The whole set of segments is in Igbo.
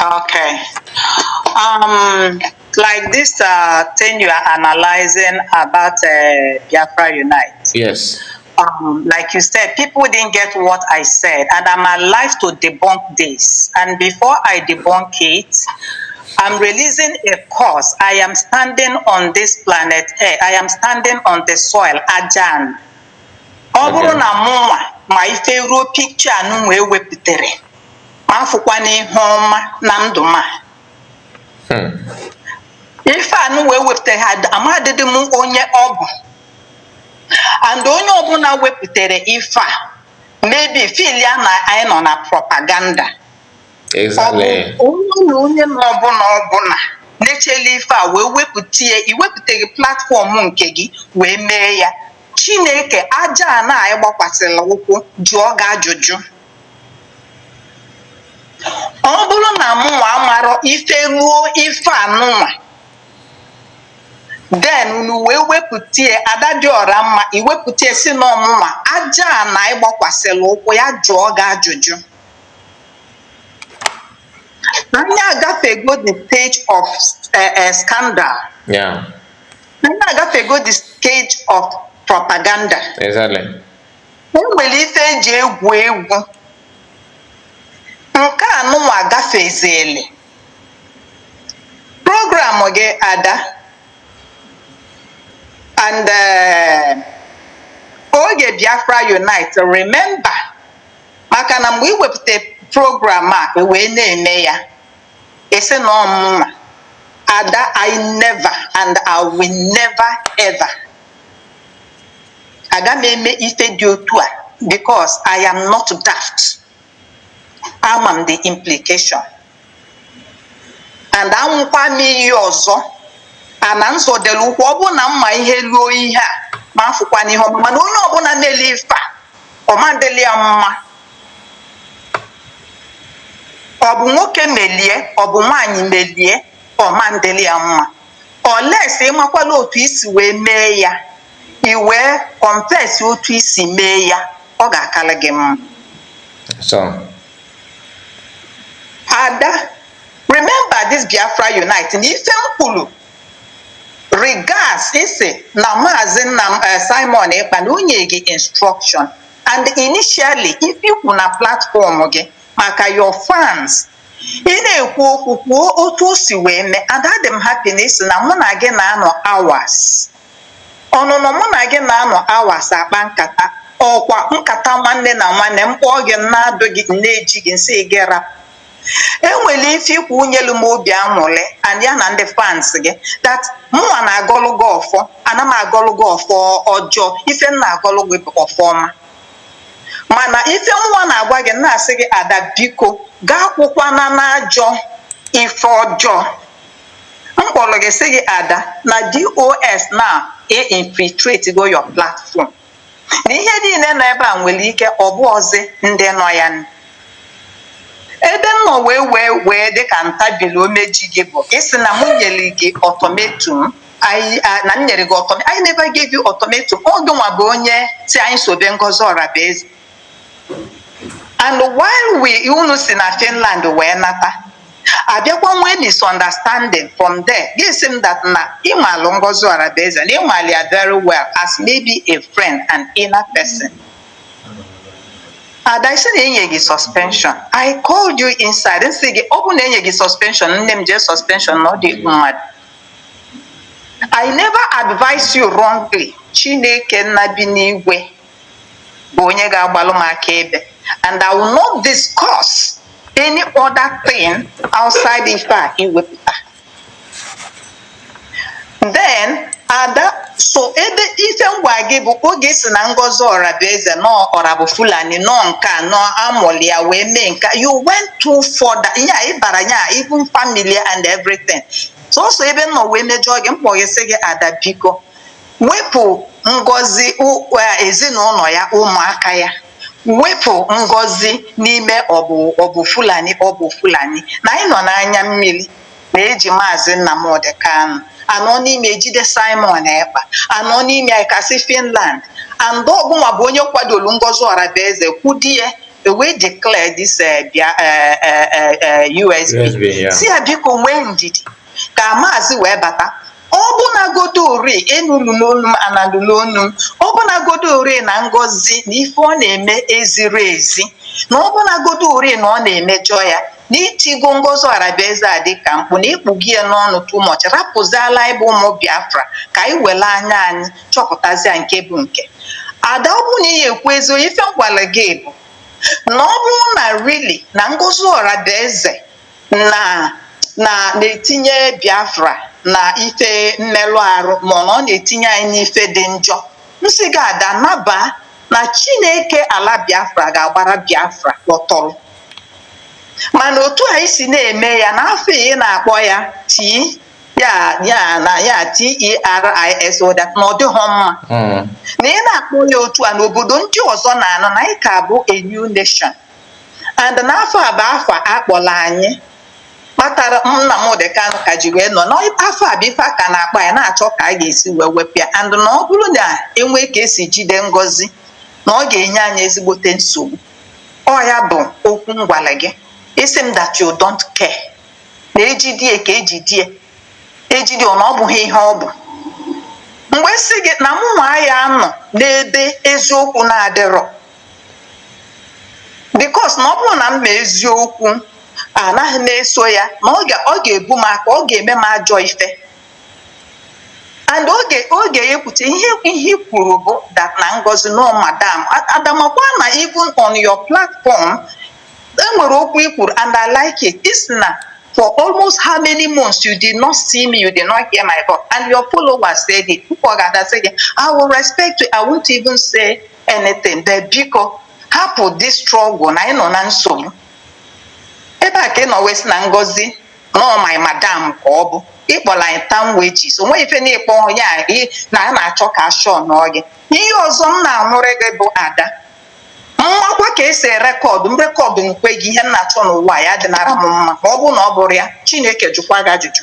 Okay. Um, like this uh, thing you are analyzing about uh, Biafra Unite. Yes. Um, like you said, people didn't get what I said, and I'm alive to debunk this. And before I debunk it, I'm releasing a course. I am standing on this planet Earth. I am standing on the soil, Ajan. Ọ bụrụ na mụnwa ma ife ruo pikcha anụ wee wepụtara m afụkwana ihe ọma na ndụ m a hmm. ife a nụwa e wepụtara amadịdị m onye ọ bụ and onye ọbụla wepụtara ife a maybe feelia na anyị nọ na propaganda onye na onye na ọbụla ọbụla na-echela ife a wee wepụta ya i wepụtara platform nke gị wee mee ya chineke aja ana anyị gbakwasịla ụkwụ jụọ gị ajụjụ Ọ bụrụ na mụnwa amarọ ife ruo ife a nụnwa, then unu wee wepụta ya, Ada Dị Ọra Mma, i wepụta ya sị na ọ mụnwa, aja ana ị gbakwasịrị ụkwụ ya jụọ gị ajụjụ. Anyị agafego the stage of eh, eh, scandal. Yeah, Anyị agafego the stage of propaganda. exactly. E nwere ife e ji egwu egwu nke a nụnwa gafezili program gị Ada and eh, oge Biafra Unite remember maka na mgbe i wepụta program a e wee na-eme ya a sị na ọ mụnwa Ada I never and I will never ever aga m eme ife dị otu a because I am not daft ama m the implication and aṅụọkwa m iyi ọzọ ana m zọdolu ụkwụ ọ bụrụ na m ma ihe ruo ihe a m afụkwana ihe ọma mana onye ọbụla meli ife a ọ ma adịlị ya mma ọ bụ nwoke melie ọ bụ nwaanyị melie ọ ma adịlị ya mma unless ị makwala otu i si wee mee ya i wee confess otu i si mee ya ọ ga-akara gị mma Ada remember this Biafra Unite na ife m kwuru regards i sị na maazị nna eh, Simon Ekpa na-enye gị instruction and initially ife i kwu na platform gị maka your fans Ị na-ekwu okwu, kwuo otu o si wee mee. Ada adị m happy na ị sị na mụ na gị na-anọ hours. Ọnụnọ mụ na gị na-anọ hours akpa nkata. Ọkwa nkata nwanne na nwanne, m kpọọ gị, m na-adụ gị, m na-eji gị, m sị gị rapụ. E nwere ife i kwu nyelu m obi aṅụrị and ya na ndị fans gị that mụnwa na-agọlụ gị ọfọ, ana m agọlụ gị ọfọ ọjọọ, ife m na-agọlụ gị bụ ọfọ ọma. mana ife mụnwa na-agwa gị na-asị gị ada biko gaa kwụkwana n'ajọ ife ọjọọ m kpọrọ gị sị gị ada na DOS na e infiltrate go your platform na ihe niile nọ ebe a nwere ike ọ bụzị ndị nọ ya nụ. ebe m nọ wee wee wee dịka ntabili omeji gị bụ ịsị na mụ nyere gị ultimatum anyị a- na m nyere gị ultim- I never gave you ultimatum ọ gịnwa bụ onye si anyị sobe Ngozi Orabueze and while we unu si na Finland wee nata abịakwa nwee misunderstanding from there gị si m that na ị malụ Ngozi Orabueze na ị malụ ya very well as maybe a friend and inner person ada ị sị na enye gị suspension I called you inside m sị gị ọ bụ na enye gị suspension nne m jee suspension na ọ dị mmadụ I never advise you wrongly Chineke nna bi n'igwe bụ onye ga-agbalụ m akaebe and I will not discuss any other thing outside ife a i wepụta then ada so ebe ife m gwa gị bụ oge ị sị na Ngozi Orabueze na ọ ọra bụ Fulani na ọ nke a na amụlụ ya wee mee nke you went too far ya ị bara ya even family and everything sọsọ ebe m nọ wee mejọọ gị m kpọọ gị sị gị ada biko wepụ ngozi e, ezinụlọ ya ụmụaka ya wepụ ngozi n'ime ọ bụ ọ bụ Fulani ọ bụ Fulani na anyị nọ n'anya mmiri na e ji maazị Nnamdị Kanụ a nọ n'ime e jide Simon Ekpa a nọ n'ime anyị ka si Finland and ọ gịnwa bụ onye kwadoro Ngozi Orabueze kwudie e wee declare this uh, uh, uh, uh, USB. USB yeah. sị ya biko nwee ndidi ka maazị wee bata ọ bụnagodu ọ rị ị nụ nụlụ onu m ada nụlụ onu m ọ bụnagodu ọ rị na Ngozi na ife ọ na-eme eziri ezi na ọ bụnagodu ọ rị na ọ na-emejọ ya na i tigo Ngozi Orabueze a dịka mkpu na ị kpụgo ya n'ọnụ too much rapụzialụ anyị bụ ụmụ biafra ka anyị were anya anyị chọpụtazia nke bụ nke ada ọ bụrụ na ị ekwu ezi ife m gwara gị bụ na ọ bụrụ na rili na Ngozi Orabueze na na na-etinye Biafra na ife mmerụ arụ ma ọ na ọ na-etinye anyị n'ife dị njọ m sị gị ada naba na Chineke ala Biafra ga-agbara Biafra kpọtọrọ mana otu anyị si na-eme ya na afa ị na-akpọ ya tii ya ya na ya terrorist that na ọ dịghọ mma na ị na-akpọ ya otu a na obodo ndị ọzọ na-anụ na anyị ka bụ a new nation and na afa a bụ afa a kpọrọ anyị kpatara Nnamdi Kanu ka ji wee nọ n'afọ a bụ ife a ka na-akpa ya na-achọ ka a ga-esi wee wepụ ya and na ọ bụrụ na enwee ka esi jide Ngozi na ọ ga-enye anyị ezigbote nsogbu ọ ya bụ okwu m gwara gị ị sị m that you don't care na ejidie ka ejidie ejidie ọ na ọ bụghị ihe ọ bụ mgbe m sị gị na mụ nwa aya anọ n'ebe eziokwu na-adịrọ because na ọ bụrụ na m ma eziokwu anaghị m eso ya na ọ ga- ọ ga-ebu m aka ọ ga-eme m ajọ ife and oge oge ya ekwuche ihe ihe i kwuru bụ that na Ngozi na ọ madam A- Ada makwa na even on your platform enwere okwu i kwuru and i like it ị sị na for almost how many months you did not see me you did not hear my voice and your followers said it people ga-ada sị gị i will respect you i won't even say anything de biko hapụ this struggle na anyị nọ na nsogbu ebe a ka ị nọ wee sị na Ngozi na ọ my madam ka ọ bụ ịkpọla anyị tam wejis o nweghị ife na ịkpọ onye a ị- na a na-achọ ka ashọ nọọ gị ihe ọzọ m na-anwụrị gị bụ Ada makwa ka esi rekọdụ m rekọdụ nke gị ihe m na-achọ n'ụwa ya dịnara m mma ma ọ bụrụ na ọ bụrụ ya Chineke jụkwa gị ajụjụ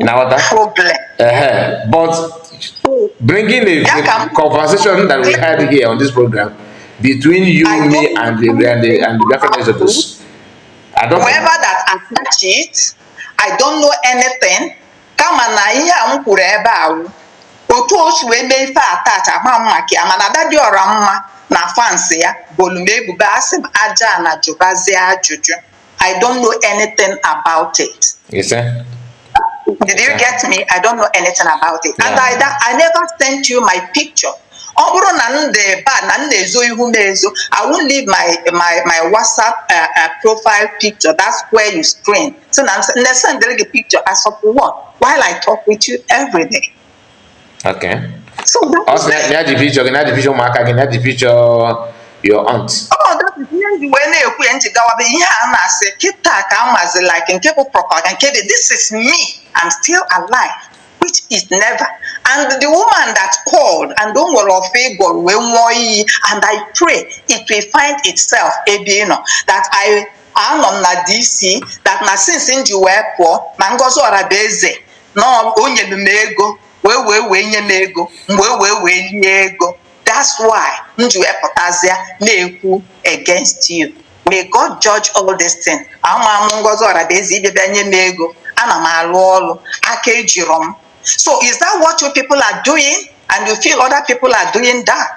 na-aghọta problem but bringing a conversation that we had here on this program between you, I me, and the, and the, and the Biafran Exodus. I don't know. Whoever that attached it, I don't know anything. kama na ihe a m kwuru ebe ahụ otu o si wee mee ife attach ama m maka ya mana Ada Dị Ọra Mma na fans ya bolu m ebubo asị m aja na jụbazie ajụjụ I don't know anything about it. You see? Did you get me? I don't know anything about it. And I, that, I never sent you my picture. ọ bụrụ na m dị ebe a na m na-ezo ihu m ezo I won't leave my my my WhatsApp uh, uh, profile picture that's where you screen so na m na-esendịrị gị picture as of what while I talk with you every day. Okay. So that oh, is na, na the picture, na the picture ụmụaka gị, na the picture your aunt. Oh, that is ihe ndị wee na-ekwu ya nji gawabe ihe a na-asị kịta ka a mazi like nke bụ propaganda nke dị this is me I'm still alive which is never and the woman that called and o nwere ife ị gwọrọ wee nwụọ iyi and I pray it will find itself ebe ị nọ that I anọ m na DC that na since m ji wee pụọ na Ngozi Orabueze na o nyere m ego wee wee wee nye m ego m wee wee wee lie ego that's why m ji wee pụtazịa na-ekwu against you may God judge all this thing ama m Ngozi Orabueze ịbịa bịa nye m ego ana m alụ ọrụ aka ejirọ m so is that what you people are doing and you feel other people are doing that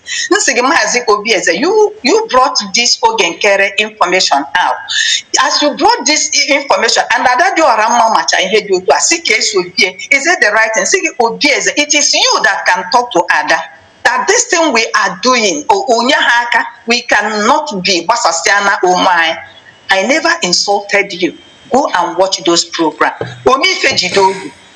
m sị gị maazị Obieze you you brought this Oge Nkere information out as you brought this information and Ada Dị Ọra Mma macha ihe dị otu a sị ka esi obie is it the right thing sị gị Obieze it is you that can talk to Ada that this thing we are doing o- onye ha aka we cannot be gbasasịa na onwe anyị i never insulted you go and watch those programs ome ife jide ogu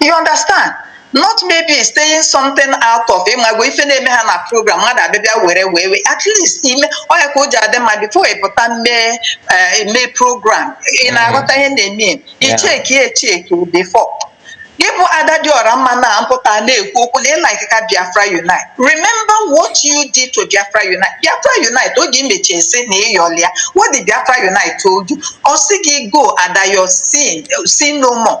you understand not maybe stating something out of ị mago ife na-eme ha na program mmadụ abịa bịa were wee wee at least ị ma ọ ya ka o ji adị mma before ị pụta mee eh, mee program ị mm. na-aghọta ihe na-eme icheki echeki before gị bụ ada dị ọra mma na-apụta na-ekwu okwu na ị like ka biafra unite remember what you did to biafra unite biafra unite oge i mechi sị na ị yọlị ya what did biafra unite told you ọ sị gị go ada your sin sin no more